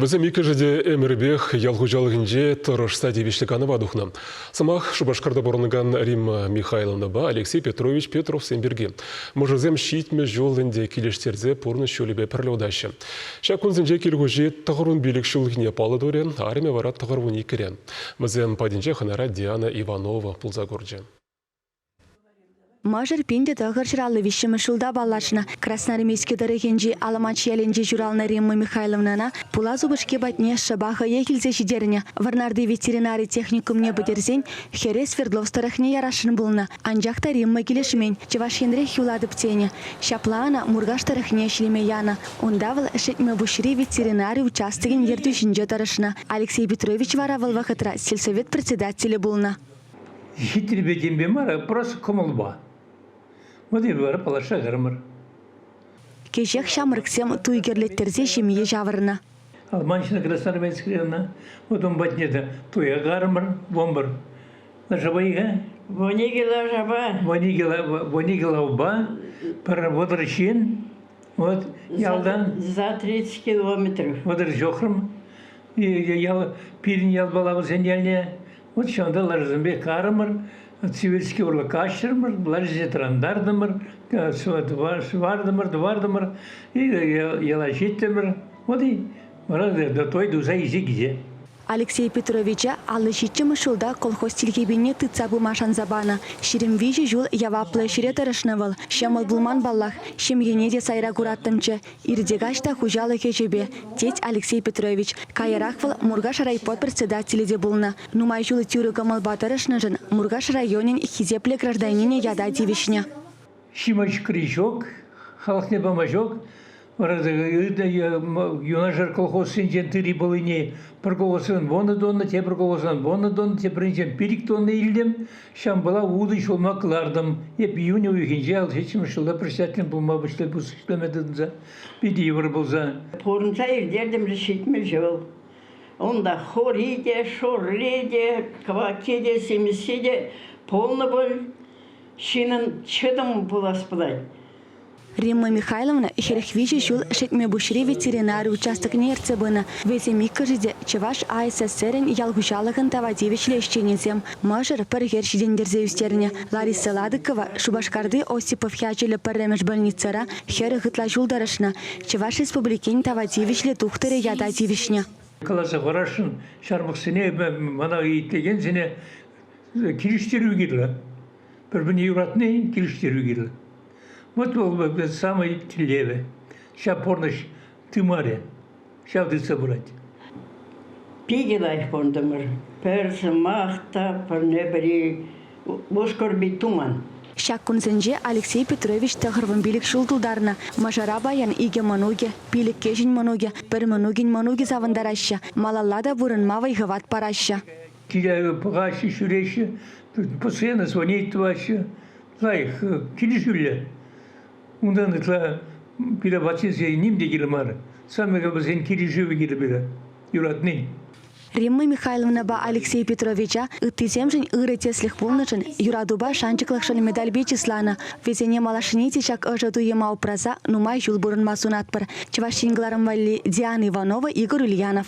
Вӗсем иккӗшӗ те ӗмӗрпех ял хуҫалӑхӗнче тӑрӑшса тивӗҫлӗ канӑва тухнӑ. Сӑмах Шупашкарта пурӑнакан Римма Михайловнӑпа Алексей Петрович Петровсем пирки. Мӑшӑрсем ҫитмӗл ҫул ӗнтӗ килӗштерсе пурнӑҫ ҫулӗпе пӗрле утаҫҫӗ. Ҫак кунсенче кил хуҫи тӑхӑрвун пилӗк ҫулхине паллӑ турӗ, арӑмӗ вара тӑхӑрвун иккӗре. Вӗсем патӗнче хӑнара Диана Иванова пулса курчӗ. Мӑшӑр пин те тӑхӑр ҫуралнӑ виҫҫӗмӗш ҫулта паллашнӑ. Красноармейски тӑрӑхӗнчи Аламанч ялӗнче ҫуралнӑ Римма Михайловнана пулас упӑшки патне шӑпа хӑех илсе ҫитернӗ. Вӑрнарти ветеринари техникумне пӗтерсен хӗре Свердловск тӑрӑхне ярасшӑн пулнӑ. Анчах та Римма килӗшмен. Чӑваш Енрех юлатӑп тенӗ. Ҫапла ӑна Муркаш тӑрӑхне ӗҫлеме янӑ. Унта вӑл Шетмӗпуҫри ветеринари участокӗн ертӳҫинче тӑрӑшнӑ. Алексей Петрович вара вӑл вӑхӑтра сельсовет председателӗ пулнӑ. Хитрипе темпе мар, просто кӑмӑлпа. Вот и вара паллашакармӑр. Кӗҫех ҫамрӑксем туй кӗрлеттерсе ҫемье ҫавӑрнӑ. Алманчина Красноармейская ӑна, вот он патне то туя кармӑр, бомбар. Лашапа-и-ха? Воникела шапа. Воникела, Воникелавба, поработар чин. Вот ялдан. За 30 километров. Вӑтӑр ҫохрӑм. Ял, пирӗн ял балавӑсен ялне Вот ҫакӑнта ларусемпе карӑмӑр, Сибирьский урлӑ каҫрӑмӑр, ларусене тӑрантартӑмӑр, сӑвартӑмӑр, тӑвартӑмӑр, йӑла ҫиттӗмӗр. Вот и вара той туса исе килсе. Алексей Петровича аллӑ ҫиччӗмӗш ҫулта колхоз тилхепине тытса пыма шанса панӑ. Ҫирӗм виҫӗ ҫул яваплӑ ӗҫре тӑрӑшнӑ вӑл. Ҫӑмӑл пулман паллах. Ҫемьене те сайра кураттӑмччӗ. Иртӗкаҫ та хуҫалӑх ӗҫӗпе, тет Алексей Петрович. Каярах вӑл Муркаш райпо председателӗ те пулнӑ. Нумай ҫул тӳрӗ кӑмӑлпа тӑрӑшнӑшӑн Муркаш районӗн хисеплӗ гражданинӗ ята тивӗҫнӗ. Ҫимӗҫ крючок, халӑхне пама ҫук. Вара юнашар колхозсенчен тыри пулине пӗр колхозран вунӑ тонна, тепӗр колхозран вунӑ тонна, тепринчен пилӗк тонна илтӗм. Ҫампала утӑ ҫулма кӑлартӑм. Эп июнь уйӑхӗнче 67 ҫулла председатель пулма пуҫлама тытӑнса питӗ йывӑр пулса. Пурӑнса иртертӗм те ҫитмӗҫ вӑл. Унта хури те, шурри те, квакки те, симӗсси те пулнӑ пуль. Ҫынӑн чӑтӑмӗ пулас пулать. Римма Михайловна хӗрӗх виҫӗ ҫул Шетмӗпуҫри ветеринари участокне ертсе пынӑ. Вӗсем иккӗшӗ те Чӑваш АССРӗн ял хуҫалӑхӑн тава тивӗҫлӗ ӗҫченӗсем. Мӑшӑр пӗр хӗр ҫитӗнтерсе ӳстернӗ. Лариса Ладыкова Шупашкарти Осипов ячӗллӗ пӗрремӗш больницӑра хӗрӗх ытла ҫул тӑрӑшнӑ. Чӑваш Республикин тава тивӗҫлӗ тухтӑрӗ ята тивӗҫнӗ. Каласа парасшӑн, ҫармӑссене, мана итлекенсене килӗштерӳ кирлӗ. Пӗр-пӗрне юратнин килӗштерӳ кирлӗ. Вӑт вӑл вӗ самый тӗллевӗ. Ҫав пурнӑҫ тымарӗ. Ҫав тытса пырать. Питӗ лайӑх пурӑнтӑмӑр. Пӗр сӑмах та пӗрне-пӗри вускорби туман. Ҫак кунсенче Алексей Петрович тӑхӑрвун пилӗк ҫул тултарнӑ. Мӑшӑра паян икӗ мӑнукӗ, пилӗккӗшӗн мӑнукӗ, пӗр мӑнукӗн мӑнукӗ савӑнтараҫҫӗ, малалла та пурӑнма вӑй-хӑват параҫҫӗ. киле пӑхаҫҫӗ, ҫӳреҫҫӗ, постоянно звонить тӑваҫҫӗ. Лайӑх килӗшӳллӗ. Унтан ытла пире патшесен ним те кирлӗ мар. Самое вӗсен килӗшӗвӗ кирлӗ пире юратнин. Римма Михайловнӑпа Алексей Петровича ыттисемшӗн ырӑ тӗслӗх пулнӑшӑн, юратупа шанчӑклӑхшӑн медальпе чысланӑ. Вӗсене малашне те ҫак ӑшӑ туйӑма упраса нумай ҫул пурӑнма сунатпӑр. Чӑваш Ен кӑларӑм валли Диана Иванова, Игорь Ульянов.